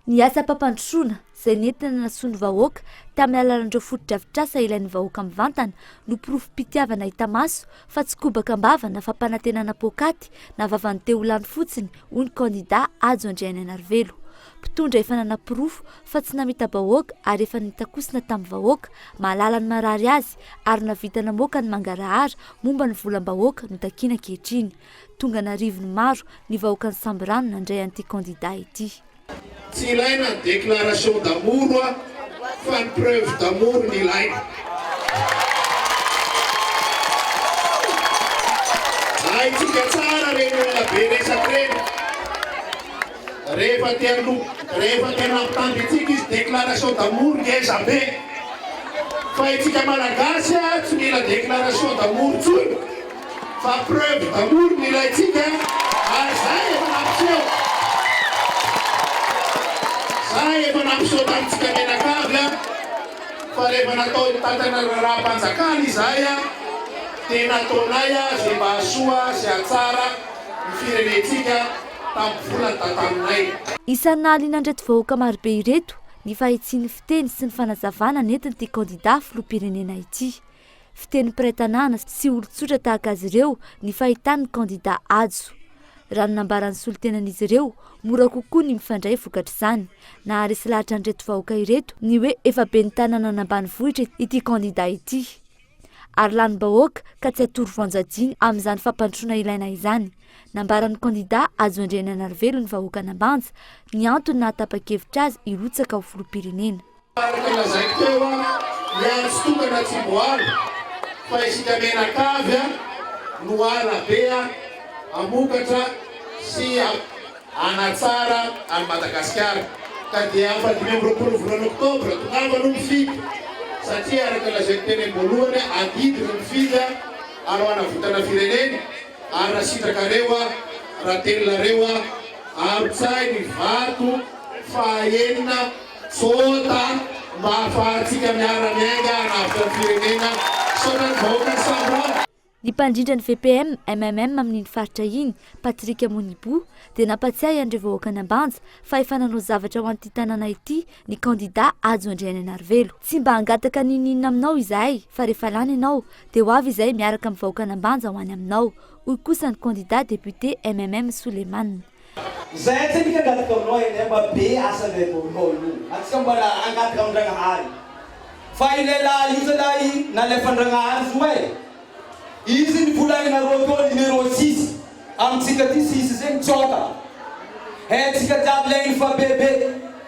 Ny asam-pampandrosoana, izay nentina nahasoa ny vahoaka tamin'ny alalan'ireo fotodrafitrasa ilain'ny vahoaka mivantana, no porofom-pitiavana hita maso fa tsy kobaka am-bava na fampanantenana poakaty na vavan'ny te ho lany fotsiny, hoy ny kandida Hajo Andrianainarivelo. Mpitondra efa nanaporofo fa tsy namita-bahoaka ary efa nitakosina tamin'ny vahoaka, mahalala ny marary azy ary nahavita namoaka ny mangarahara momba ny volam-bahoaka no takiana ankehitriny. Tonga an'arivony maro ny vahoakan'i Sambirano nandray an'ity kandida ity. Tsy ilaina ny déclaration d'amour hoa fa ny preuve d'amour no ilaina. Haintsika tsara ireny olona be resaka ireny. Rehefa te hanoa, rehefa te hanampy tanjo itsika izy déclaration d'amour ngeza be. Fa itsika malagasy a tsy mila déclaration d'amour tsony fa preuve d'amour no ilaintsika ary zay efa nampiseho. Zay efa nampiseho tamintsika mianakavy a fa rehefa natao hitantana ny raharaham-panjakana izahay a dia nataonay a ze mba hahasoa sy hahatsara ny firenentsika tamin'ny volany tantaninay. Isan'ny nahaliana an'ireto vahoaka marobe ireto ny fahitsian'ny fiteny sy ny fanazavana nentin'ity kandida filoham-pirenena ity. Fiteny mpiray tanàna sy olon-tsotra tahaka azy ireo ny fahitan'ny kandida Hajo. Raha ny nambaran'ny solontenan'izy ireo, mora kokoa ny mifandray vokatr'izany. Naharesy lahatra an'ireto vahoaka ireto ny hoe efa ben'ny tanàna an'ambanivohitra ity kandida ity. ary lanim-bahoaka ka tsy hatoro voan-jajiny amin'izany fampandrosoana ilaina izany. Nambaran'ny kandidà Hajo Andriananarivelo ny vahoaka Anambanja ny antony nahatapa-kevitra azy hirotsaka ho filoham-pirenena. Araka ny lazaiko teo an, ny ahy tsy tokana tsy voaro fa isika mianakavy an, no arabe an, hamokatra sy. hanatsara an'i Madagasikara ka dia amin'ny fahadimy amby roapolo volana oktobra tongava aloha mifidy satria araka ny lazain'ny teny am-boalohany adidy ny mpifidy ary ho hanavotana firenena ary raha sitrakareo raha teninareo ampitsahy ny vato faha enina tsota mba hahafahantsika miara-miainga hanavotra ny firenena misaotra ny vahoakan'i Sambava. Ny mpandrindra ny VPM, MMM amin'iny faritra iny, Patrick Monibo, dia nampatsiahy an'ireo vahoakan'Ambanja fa efa nanao zavatra ho an'ity tanàna ity ny kandidà Hajo Andrianainarivelo. Tsy mba hangataka n'inon'inona aminao izahay fa rehefa lany ianao dia ho avy izahay miaraka amin'ny vahoakan'Ambanja ho any aminao, hoy kosa ny kandidà depiote MMM Souleymane. Zay tsy midika angady gaonao eny mba be asa ndray vao mikaolo. Antsika mbola angady gaon-dragnahary fa ilay lahy io zalahy nalefan-dragnahary zo e! Izy ny volaninareo teo numéro six amintsika ty sisa zay mitsaoka e! Tsika jiaby lain'ny fa be be.